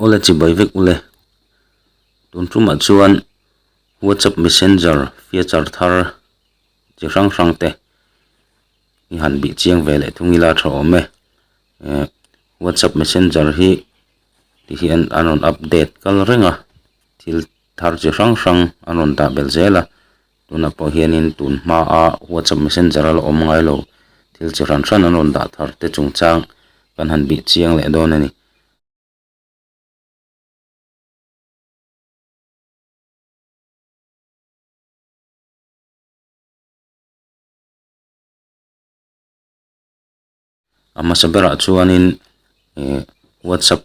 Ule chi bai vek ule. Tun tumah chuan WhatsApp Messenger feature thar chi hrang hrang te i han bih chiang ve leh thung ila tha awm e. Eh WhatsApp Messenger hi ti hian an rawn update kal reng a, thil thar chi hrang hrang an rawn dah belh zel a. tunah pawh hianin tun hmaa whatsapp messenger a la awm ngai lo thil chi hran hran an rawn dah thar te chung chang kan han bih chiang leh dawn a ni. a hmasa berah chuanin ihh whatsapp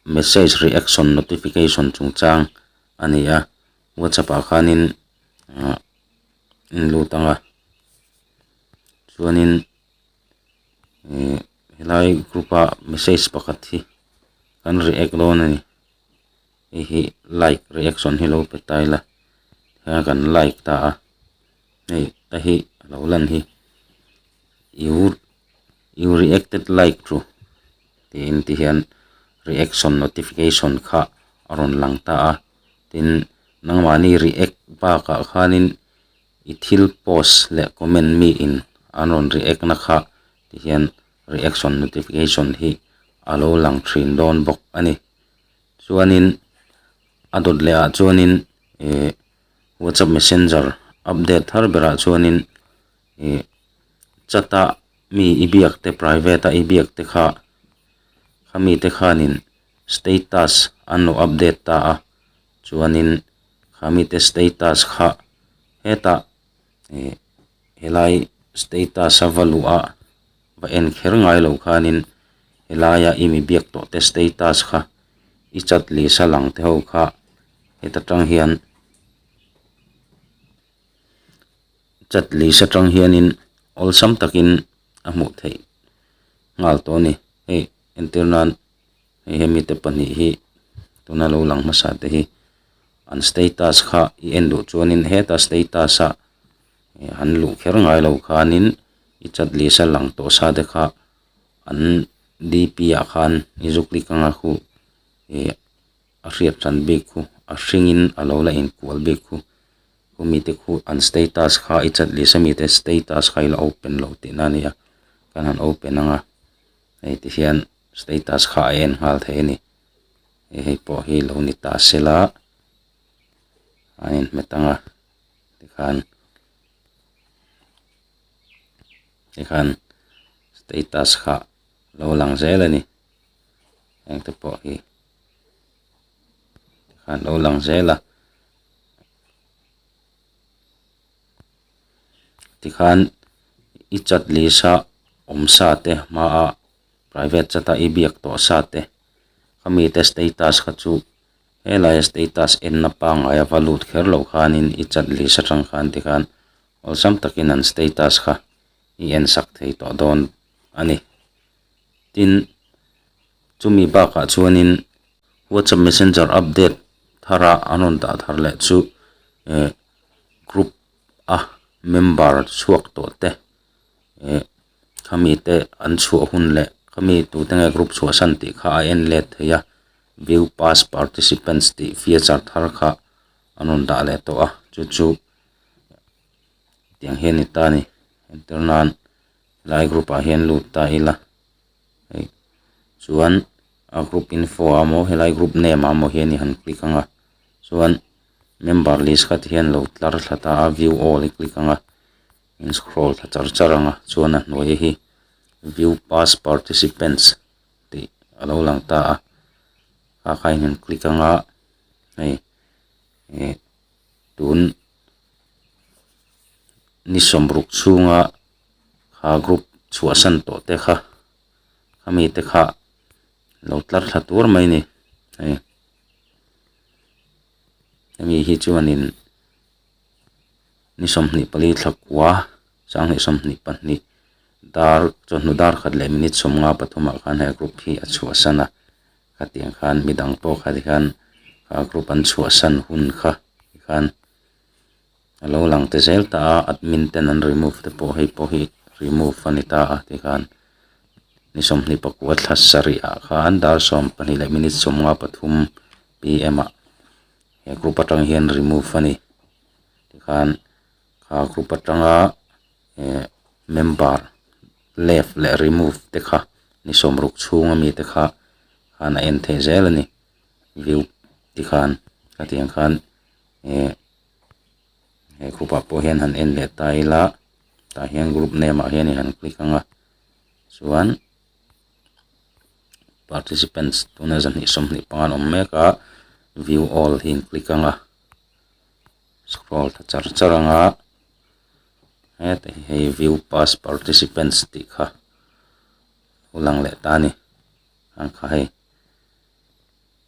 message reaction notification chungchang a ni a whatsapp ah khanin ah in lut ang a chuanin ihh helai group a message pakhat hi kan react dawn a ni. hei hi like reaction hi lo pe ta ila khaya kan like ta a hei ka hi a lo lan hi you you reacted like to tih intihian reaction notification kha a rawn lang ta a tin nangmahni react bakah khanin i thil post leh comment mi in an rawn react na kha tihian reaction notification hi a lo lang thin dawn bawk a ni. Chuanin a dawt leh ah chuanin ih WhatsApp messenger update thar ber ah chuanin ih chat ah mi i biak te private ah i biak te kha kha mi te khanin status an lo update ta a, chuanin kha mi te status kha hetah ih helai status a va luh ah va en kher ngai lo khanin helaia i mi biak tawh te status kha i chat lisa lang te ho kha heta tang hian chat lisa tang hianin awlsam takin a hmuh theih nghal tawh a ni. Hei entir nan hei he mite pahnih hi tuna lo lang hmasa te hi an status kha i en duh chuanin heta status a. an luh kher ngai lo khanin i chat leh sa lang tawh sa te kha an dp ah khan i zukli kanga khu ih a hriat hran bik khu a hringin a lo la inkual bik khu khu mi te khu an status kha i chat leh sa mi te status kha i la open lo teh na nia kan han open anga hei ti hian status kha a en nghal thei a ni hei pawh hi lo ni ta se la an inhmet ang a. tikhan tikhan status kha lo lang zel a ni hengte pawh hi tikhan lo lang zel a tikhan i chat lisa awm sa te hmaa private chata i biak tawh sa te khami te status kha chu-- Helaiah status enna pangaia va lut kher loh khanin i chat leh sa tang khan ti khan awlsam takin an status kha i en sak thei tawh dawn a ni. Tin, chumi bakah chuanin WhatsApp Messenger update thara an rawn dah thar leh chu e group a member chhuak tawh te e. khami te an chhuah hun leh khami tute nge group chhuah san tih kha a en let thei a view past participants tih feature thar kha an rawn dah leh tawh a chu chu tiang hian ni ta ni enter nan helai group ah hian lut ta ila hei chuan a group info ah maw helai group name ah maw hian i han click ang a chuan member list kha ti hian lo tlar thla ta a view all i click ang a. in scroll ta char char ang a chuan a hnuaia hi view past participants tih a lo lang ta a kha kha in click ang a hei ih tun ni sawm ruk chhunga kha group chhuah san tawh te kha kha mi te kha lo tlar thla tur mai a ni hei hemi hi chuan in-- ni sawmhnih pali thlakua sanghnih sawmhnih pahnih dar chawhnu dar khat leh minute sawm nga pathum ah khan he a group hi a chhuahsan a hetiang khan midang tawk khat hian a group an chhuahsan hun kha hi khan a lo lang ta zel ta a admin ten an remove te pawh hei pawh hi remove a ni ta a ti khan ni sawmhnih pakua thla sarih ah khan dar sawm pahnih leh minute sawm nga pathum pm ah-- he group atang hian remove a ni tikhan kha group atanga ehh member left leh remove te kha ni sawm ruk chhung ami te kha khan a en thei zel a ni view tikhan hetiang khan ehh he group ah pawh hian han en leh ta ila tah hian group name ah hian i han click anga chuan-- participants tuna zan hnih sawm hnih pangan awm mek a view all hi an click ang a scroll ta char char ang a heta hi hei view past participants tih kha lo lang leh ta a ni ang kha hei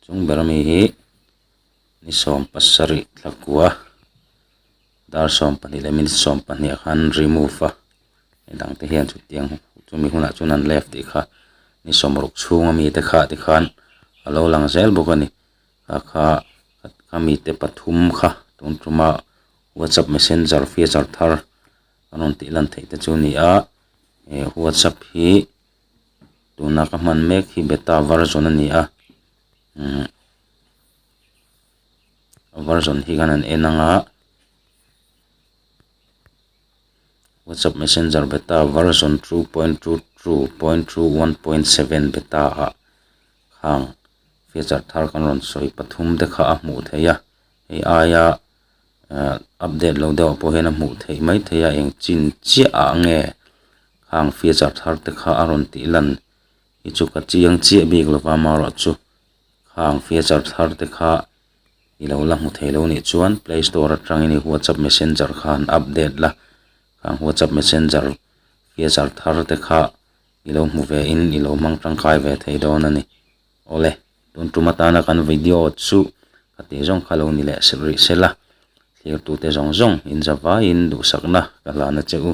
chung ber ami hi ni sawm pasarih thlakua. dar sawm pahnih leh minute sawm pahnih ah khan remove a hei dangte hian chutiang chumi hunah chuan an left tih kha ni sawm ruk chhunga mite kha te khan a lo lang zel bawk a ni hakha a mite pathum kha tum tuma whatsapp messenger feature thar an rawn tih lan theih te chu a ni a eh whatsapp hi tuna ka hman mek hi beta version a ni a umm-- version hi khan an en ang a whatsapp messenger beta version two point two two point two one point seven beta ah hang feature thar kan rawn sawi pathum te kha a hmuh theih a hei aia ehh update lo deuh ah pawh hian a hmuh theih mai thei a eng chin chiah ah nge hang feature thar te kha a rawn tih lan i chu ka chiang chiah bik lo va amaherawhchu-- Khang feature thar te kha i lo la hmu thei lo nih chuan play store atang in i whatsapp messenger kha han update la, khang whatsapp messenger feature thar te kha i lo hmu ve in i lo hmang tangkai ve thei dawn a ni. Aw le, tun tum atana kan video chu ka tih zawng kha lo ni leh rih se la, thlir tu te zawng zawng in zavai in duhsak na ka hlan a che u.